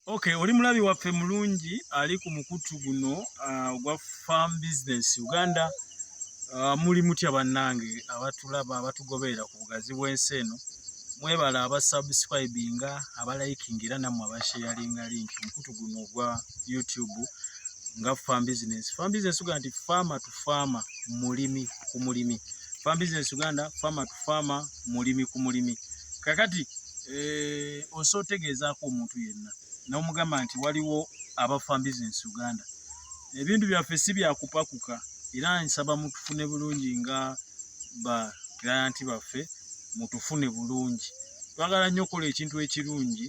Okay, oli mulabi waffe mulungi ali ku mukutu guno uh, ogwa uh, farm business Uganda uh, muli mutya bannange abatulaba abatugoberera ku bugazi bw'ensi eno mwebala abasubscribinga abaliking era namwe abasharinga link mukutu guno ogwa youtube nga farm business farm business uganda nti faama to faama mulimi ku mulimi farm business uganda faama to faama mulimi ku mulimi kakati eh, osa otegeezaako omuntu yenna n'omugamba nti waliwo abafan business uganda ebintu byaffe si byakupakuka era nsaba mutufune bulungi nga ba client baffe mutufune bulungi twagala nnyo okukola ekintu ekirungi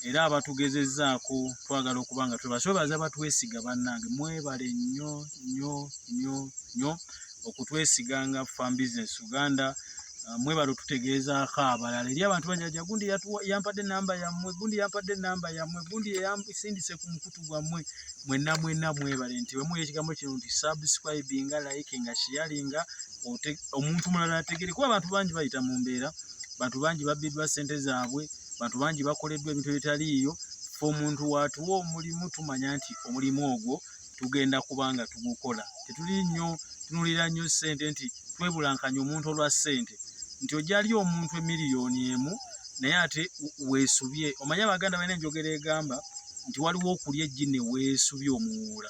era abatugezezaako twagala okuba nga twebaswebaza batwesiga bannange mwebale nnyo nnyo nnyo nnyo okutwesiga nga Farm Business Uganda uh, mwebale otutegeezaako abalala eri abantu banyaja gundi yampadde enamba yammwe gundi yampadde enamba yammwe gundi yeyasindise ku mukutu gwammwe mwenna mwenna mwebale nti wemuwa ekigambo kino nti subscribinga likinga sharinga omuntu mulala ategere kuba abantu bangi bayita mu mbeera bantu bangi babbiddwa ssente zaabwe bantu bangi bakoleddwa ebintu ebitaliiyo fe omuntu watuwa omulimu tumanya nti omulimu ogwo tugenda kuba nga tugukola tetuli nnyo tunulira nnyo ssente nti twebulankanya omuntu olwa ssente nti ojali omuntu emiliyoni emu naye ate weesubye omanye abaganda balina enjogera egamba nti waliwo okulya eggi ne weesubye omuwuula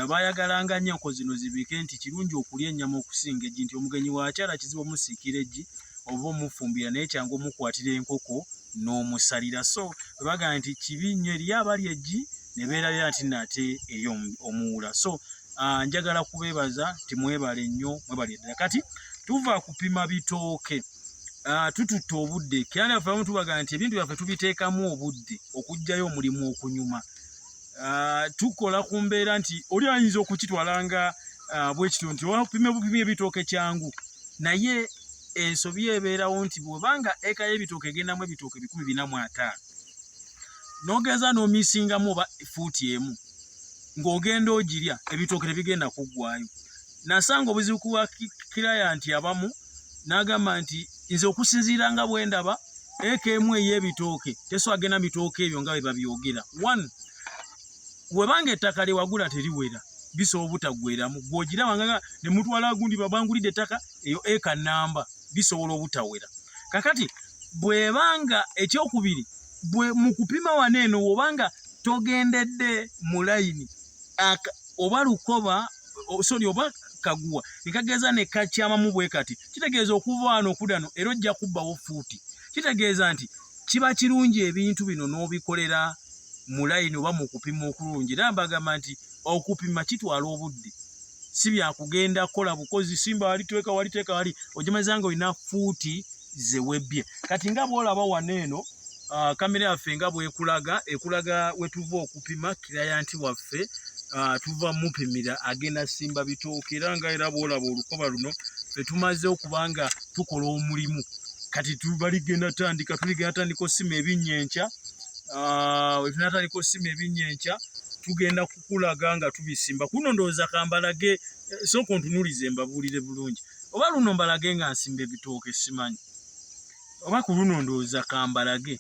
abayagalanga nnyo enko zino zibike nti kirungi okulya ennyama okusinga eggi nti omugenyi waakyala kizibu omusiikira eggi oba omufumbira naye kyangu omukwatira enkoko n'omusalira so webagamba nti kibi nnyo eriyo abali eggi ne beerabira nti nno ate eri omuwula so ah, njagala kubeebaza nti mwebale nnyo mwebale ddala kati tuva kupima bitooke ah, tututte obudde kiranda yaffe abamu tubaga nti ebintu byaffe tubiteekamu obudde okugjayo omulimu okunyuma ah, tukola ku mbeera nti oli ayinza okukitwala nga bwekityo nti opima bupima ebitooke kyangu naye ensobi ebeerawo nti bwebanga eka y'ebitooke egendamu ebitooke bikumi bina mu ataano nogeza nomisingamu oba fuuti emu ng'ogenda ogirya ebitooke tebigenda kuggwayo nasanga obuzibu kuwa kilayanti abamu n'agamba nti nze okusinziira nga bwe ndaba eka emu ey'ebitooke teswagenda mitooke ebyo nga bwe babyogera one webanga ettaka lyewagula teriwera bisobola obutaggweramu gw'ogira wangaga ne mutwala gundi babangulidde ettaka eyo eka namba bisobola obutawera kakati bwebanga ekyokubiri bwe mu kupima wano eno woba nga togendedde mu layini oba lukoba sori oba kaguwa nekageeza ne kakyamamu bwe kati kitegeeza okuva wano okudano era ojja kubbawo fuuti kitegeeza nti kiba kirungi ebintu bino n'obikolera mu layini oba mu kupima okulungi era mbagamba nti okupima kitwala obudde si byakugenda kola bukozi simba wali tweka wali tweka wali ojimeza nga olina fuuti ze webbye kati nga bwolaba wano eno uh, kamera yaffe nga bwekulaga ekulaga wetuva okupima kirayanti waffe uh, tuva mupimira agenda simba bitooka era nga era bwolaba olukoba luno fetumaze okuba nga tukola omulimu kati tubaligenda tandika tuligenda tandika osima ebinnya enkya uh, wetunatandika osima ebinnya enkya tugenda kulaga nga tubisimba kuno ndowooza kambalage eh, sooka ontunulize mbabuulire bulungi oba luno mbalage nga nsimba ebitooke simanyi oba ku luno ndowooza kambalage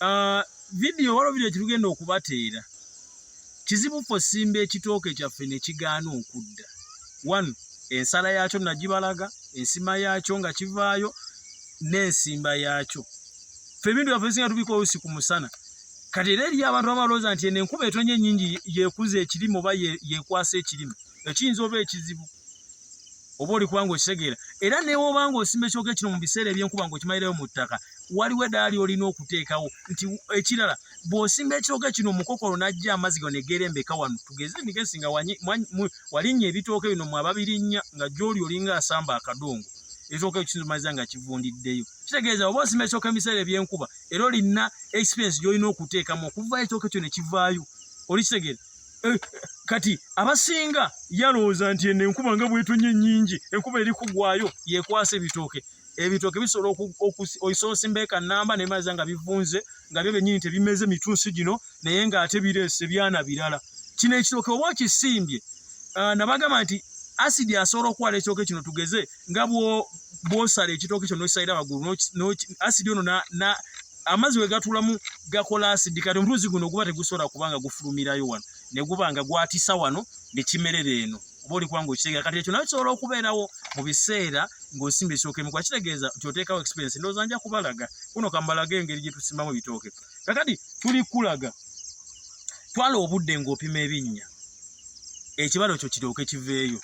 ah, vidiyo waliwo vidiyo kitugenda okubateera kizibu ffe osimba ekitooke kyaffe ne kigaana okudda one ensala yaakyo nagibalaga ensima yaakyo nga kivaayo n'ensimba yaakyo ffe ebintu byaffe bisinga tubikola olusi ku musana kati era eriyo abantu abalowooza nti eno enkuba etonye enyingi yekuza ekirime oba yekwasa ekirime ekiyinza oba ekizibu oba oli kubanga okitegeera era newobanga osimba ekyoka ekino mu biseera ebyenkuba nga okimalirayo mu ttaka waliwo edaali olina okuteekawo nti ekirala bw'osimba ekyoka kino omukokolo n'ajja amazzi gano egerembeka wano tugeze nigesi nga walinnya ebitooke bino mwe ababirinnya nga gyoli olinga asamba akadongo ekitooka ekyo kiyinza omaliza nga kivundiddeyo kitegeeza oba osimba ekyoka ebiseera ebyenkuba era olina experience gyolina okuteekamu okuva ekitoke kyo nekivaayo olikitegeera eh, kati abasinga yalowooza nti eno enkuba nga bwetonye nyingi enkuba eri kugwayo yekwasa ebitooke ebitooke bisobola oisoosi mbeeka namba nemaza nga bivunze nga byo benyini tebimeze mitunsi gino naye nga ate bireese byana birala kino ekitooke oba okisimbye ah, nabagamba nti asidi asobola okuwala ekitooke kino tugeze nga bwosala ekitooke kyo nokisalira waggulu asidi ono amazzi wegatulamu gakola asidi kati omuluzi guno guba tegusobola kubanga gufulumirayo wano neguba nga gwatisa wano nekimerera eno oba olikuba nga okitegera kati ekyo nayo kisobola okubeerawo mu biseera ng'osimba ekitooke mukuba kitegeeza nti oteekawo experience ndowooza nja kubalaga kuno kambalaga engeri gye tusimbamu ebitooke kakati tuli kulaga twala obudde ng'opima ebinnya ekibalo kyo kiryoke kiveeyo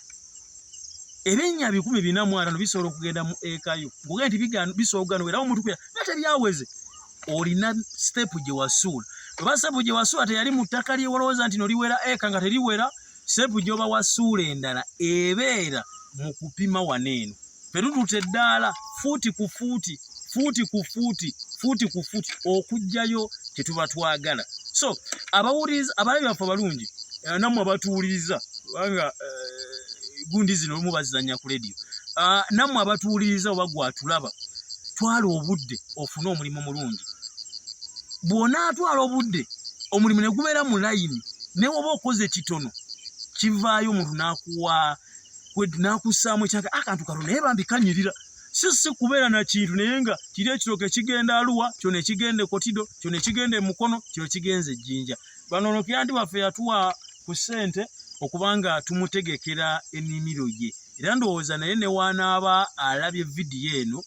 ebinnya bikumi bina mu ataano bisobola okugenda mu eka yo ng'ogenda nti bisobola okugenda era omuntu kuya nga tebyaweze olina sitepu gye wasuula oba sitepu gye wasuula teyali mu ttaka lye walowooza nti noliwera eka nga teriwera sitepu gy'oba wasuula endala ebeera mu kupima wano eno fe tututte eddaala fuuti ku fuuti fuuti ku fuuti fuuti ku fuuti okujjayo kye tuba twagala so abawuliriza abalabi baffe abalungi eh, nammwe abatuwuliriza kubanga eh, gundi zino olumu bazizanya ku lediyo ah, nammwe abatuwuliriza oba gwatulaba twala obudde ofune omulimu mulungi bw'onaatwala obudde omulimu ne gubeera mu layini newoba okoze kitono kivaayo omuntu n'akuwa nakussaamu ekyange akantu ah, kano naye bambi kanyirira si si kubeera na kintu naye nga kiri ekirooka ekigenda aluwa kyo nekigenda ekotido kyo nekigenda emukono kyo kigenza ejjinja bano nokyanti waffe yatuwa ku ssente okubanga tumutegekera enimiro ye era ndowooza naye newanaaba alabye vidiyo eno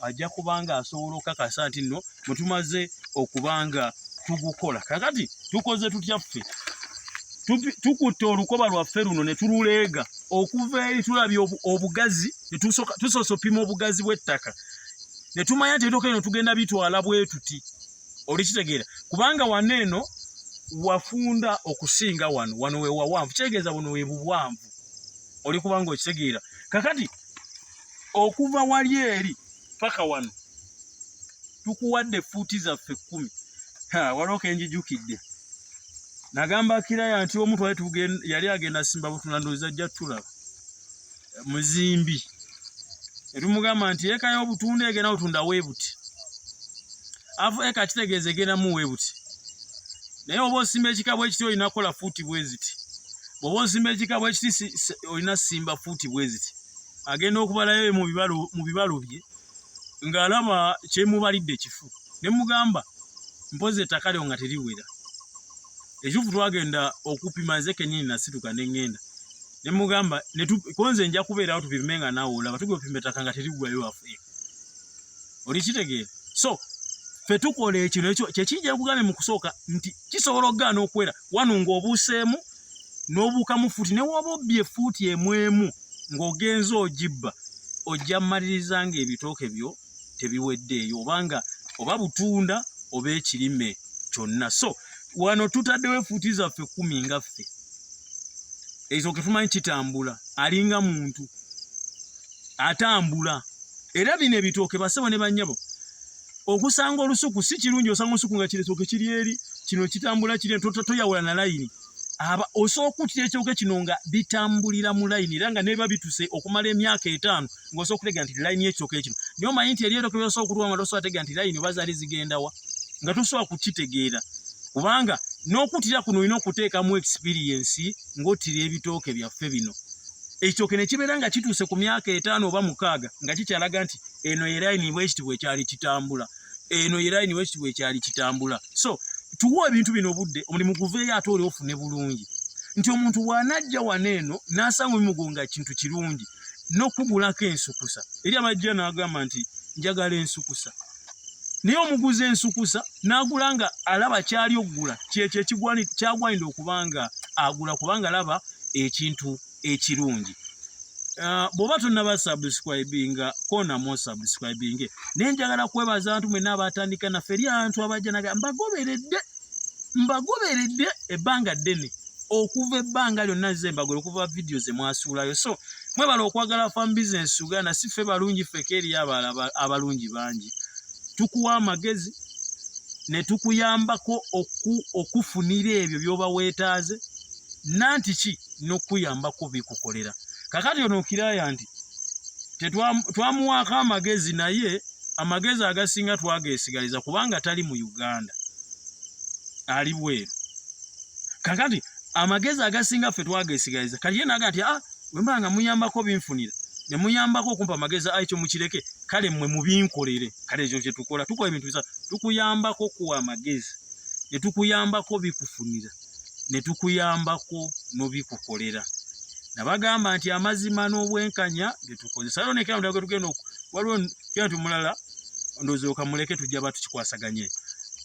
ajja kubanga asobola okukakasa nti nno bwe tumaze okubanga tugukola kakati tukoze tutya ffe tukutte olukoba lwaffe luno ne tululeega okuva eri tulabye obugazi tusoose opima obugazi bw'ettaka ne tumanya nti ebitoka eno tugenda bitwala bwetuti olikitegeera kubanga wano eno wafunda okusinga wano wano wewawanvu kitegeeza buno webuwanvu oli kubanga okitegeera kakati okuva wali eri paka wano tukuwadde fuuti zaffe kkumi waliwo kenjijukidde nagamba kiraya nti omu twali tugenda yali agenda simba butuna ndoozi ajja tulaba muzimbi etumugamba nti eka y'obutunda egenda otunda weebuti afu eka kitegeeza egendamu weebuti naye oba osimba ekika bwekiti olina kukola fuuti bweziti bwoba osimba ekika bwekiti olina simba fuuti bweziti agenda okubalayo mu bibalo bye ng'alaba kyemubalidde kifu ne mugamba mpozi ettaka lyo nga teriwera ekituufu twagenda okupima nze kenyini nasituka ne ŋŋenda ne mugamba konze nja kubeerawo tupime nga naawe olaba tugenda opima ettaka nga teriggwayo wafu eh. oli kitegeera so fetukola ekino ekyo kyekijja kugambe mu kusooka nti kisobola okugaana okuwera wano ng'obuuseemu n'obuukamu fuuti newooba obbye efuuti emu emu ng'ogenze ogibba ojja mmaliriza ng'ebitooke byo tebiweddeeyo oba nga oba butunda oba ekirime kyonna so wano tutaddewo efuuti zaffe kumi nga ffe ezo ke tumanyi kitambula alinga muntu atambula era bino ebitooke basebo ne bannyabo okusanga olusuku si kirungi osanga olusuku nga kiresoke kiri eri kino kitambula kiri tota toyawula na layini aba osooka okutira ekyoge kino nga bitambulira mu layini era nga neba bituse okumala emyaka etaano ng'osobola okutegera nti layini y'ekyoke kino naye omanyi nti eryeroke byosobola okutuwa nga tosobola tegera nti layini oba zaali zigendawa nga tosobola kukitegeera kubanga n'okutira kuno olina okuteekamu ekisipiriyensi ng'otira ebitooke byaffe bino ekyoke ne kibeera nga kituuse ku myaka etaano oba mukaaga nga kikyalaga nti eno yeraini bwekiti bwekyali kitambula eno yeraini bwekiti bwekyali kitambula so tuwa ebintu bino obudde omulimu guveeyo ate oli ofune bulungi nti omuntu bwanajja wano eno nasanga omugo nga kintu kirungi nokugulako ensukusa eri abajja nagamba nti njagala ensukusa naye omuguzi ensukusa nagula nga alaba kyali okugula kyekyo ekigwani kyagwanidde okubanga agula kubanga alaba ekintu eh, ekirungi Uh, bwoba tonaba subscribinga kona mo subscribinge naye njagala kwebaza abantu mwena abatandika naffe eri abantu abajja naga mbagoberedde mbagoberedde ebbanga ddene okuva ebbanga lyonna ze mbagole okuva vidiyo ze mwasuulayo so mwebala okwagala fam bisinesi uganda si ffe balungi ffeka eriyo abala abalungi bangi tukuwa amagezi ne tukuyambako okufunira ebyo byoba weetaaze nanti ki nokuyambako bikukolera kakati ono okiraya nti twamuwaako amagezi naye amagezi agasinga twagesigaliza kubanga tali mu uganda ali bweru kakati amagezi agasinga ffe twagesigaliza kati ye naga nti a ah, wemba nga muyambako binfunira ne muyambako okumpa amagezi ayi kyo mukireke kale mmwe mubinkolere kale ekyo kye tukola tukola ebintu bisa tukuyambako kuwa amagezi ne tukuyambako bikufunira ne tukuyambako n'obikukolera nabagamba nti amazima n'obwenkanya byetukozesa alo nekera ndaga tugenda waliwo kintu mulala ndozi okamuleke tujja batu kikwasaganye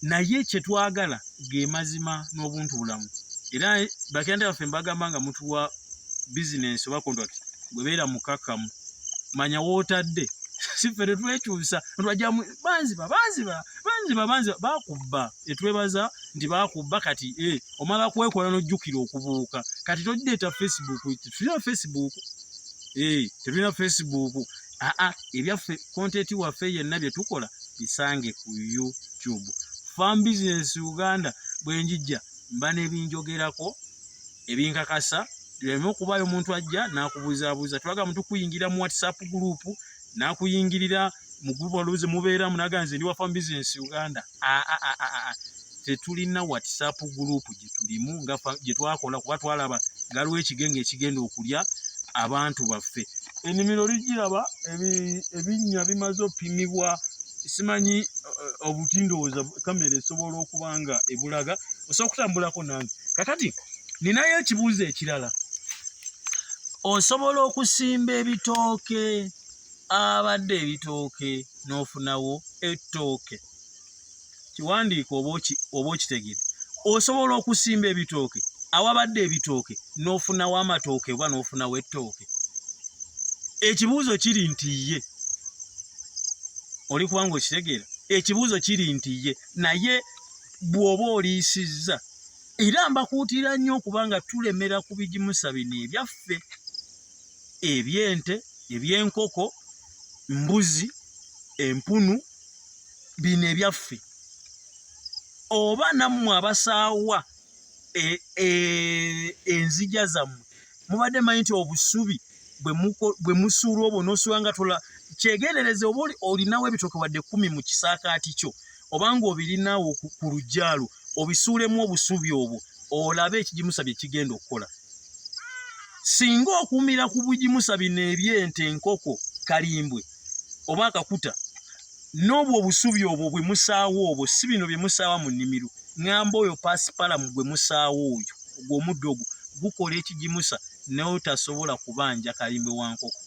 naye kye twagala ge mazima n'obuntu bulamu era bakenda baffe mbagamba nga mutu wa business oba contract gwebeera mukakamu manya wotadde siffe tetwekyusa nwajamu banziba banziba banziba banziba bakubba etwebaza nti bakubba kati e omala kwekola nojjukira okubuuka kati togireeta facebook tetulina facebook e tetulina facebook aa ebyaffe kontenti waffe yenna bye tukola bisange ku youtube fam business uganda bwe njijja mba nebinjogerako ebinkakasa tuleme okubaayo omuntu ajja n'akubuzaabuza tulaga mu tukuyingira mu whatsapp group n'akuyingirira mu group oluuzi mubeeramu naga nze ndi wafa mu bizinesi uganda tetulina whatsapp group gyetulimu nga gyetwakola kuba twalaba galiwo ekigenge ekigenda okulya abantu baffe enimiro ligiraba ebinnya bimaze opimibwa simanyi eh, obuti ndowooza kamera esobola okuba nga ebulaga osobola okutambulako nange kakati ninayo ekibuuzo ekirala osobola okusimba ebitooke abadde ebitooke n'ofunawo ettooke kiwandiiko oba okitegede osobola okusimba ebitooke awabadde ebitooke n'ofunawo amatooke oba n'ofunawo ettooke ekibuuzo kiri nti ye oli kubanga okitegeera ekibuuzo kiri nti ye naye bw'oba oliisizza era mbakuutira nnyo okubanga tulemera ku bigimusa bino ebyaffe ebyente ebyenkoko mbuzi empunu bino ebyaffe oba nammwe abasaawa e, e, enzija zammwe mubadde manyi nti obusubi bwe musuula obwo nosuula nga tola kyegendereze oba olinawo ebitoke wadde kumi mu kisaakaati kyo obanga obirinawo ku lujjaalwo obisuulemu obusubi obwo olabe ekigimusa bye kigenda okukola singa okumira ku bugimusa bino ebyente enkoko kalimbwe oba akakuta n'obwo obusubi obwo bwe musaawo obwo si bino bye musaawa mu nnimiro ŋŋamba oyo pasipalamu gwe musaawo oyo ogwo omuddo ogwo gukola ekigimusa naye otasobola kubanja kalimbwe wa nkoko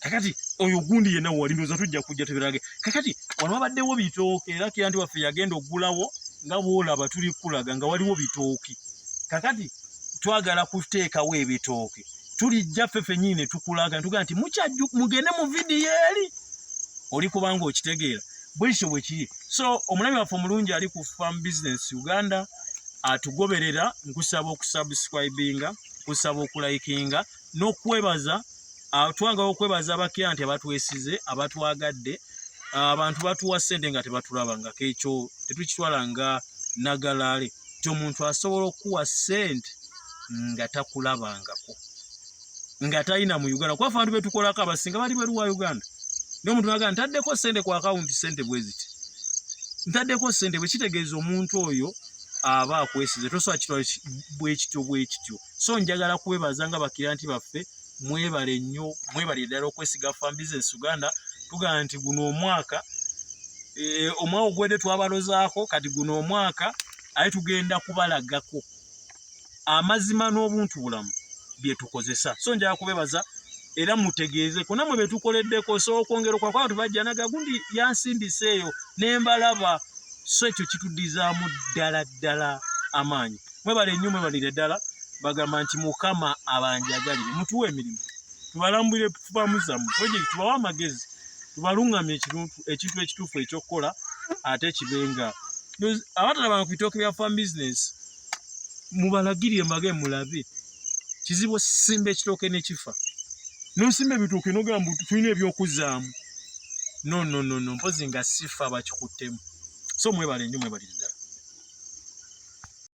kakati oyo gundi yenna wali ndoza tujja kujja tubirage kakati wano wabaddewo bitooke era kira nti waffe yagenda okugulawo nga bwolaba tuli kulaga nga waliwo bitooke kakati twagala kuteekawo ebitooke tulijja ffe fenyini ne tukulaga ntuga nti mukyajju mugende mu vidiyo eri oli kubanga okitegeera bwekityo bwe kiri so omulabi waffe omulungi ali ku farm business uganda atugoberera nkusaba okusubscribinga kusaba okulikinga n'okwebaza ah, twangala okwebaza abakira nti abatwesize abatwagadde ah, abantu batuwa sente nga tebatulaba nga kekyo tetukitwala nga nagalaale ti omuntu asobola okukuwa sente nga takulabangako nga talina mu uganda kuba fantu betukolako abasinga bali bweru wa uganda naye omuntu naga ntaddeko sente ku akawunti sente bweziti ntaddeko sente bwekitegeeza omuntu oyo aba akwesize tosobola kitwala bwekityo bwekityo so njagala kwebaza nga bakiranti baffe mwebale nnyo mwebale ddala okwesiga fan business uganda tugamba nti guno omwaka e, omwaka ogwedde twabalozaako kati guno omwaka aye tugenda kubalagako amazima n'obuntu bulamu byetukozesa so njagala kubebaza era mutegeeze ku namwe betukoleddeko so okwongera okwakuba bantu bajja naga gundi yansindisa eyo nembalaba so ekyo kitudizaamu ddala ddala amaanyi mwebale nnyo mwebalire ddala bagamba nti mukama abanjagalire mutuwa emirimu tubalambulire tubamu zamu purojekiti tubawe amagezi tubalungamye ekintu ekituufu ekyokukola ate kibenga abatalabanga ku bitooke bya fam business mubalagirire mbage mulabe kizibu osimba ekitooke nekifa nosimba ebitooke nogamba tulina ebyokuzaamu nononono mpozi nga sifa bakikuttemu so mwebale nnyo mwebalire ddala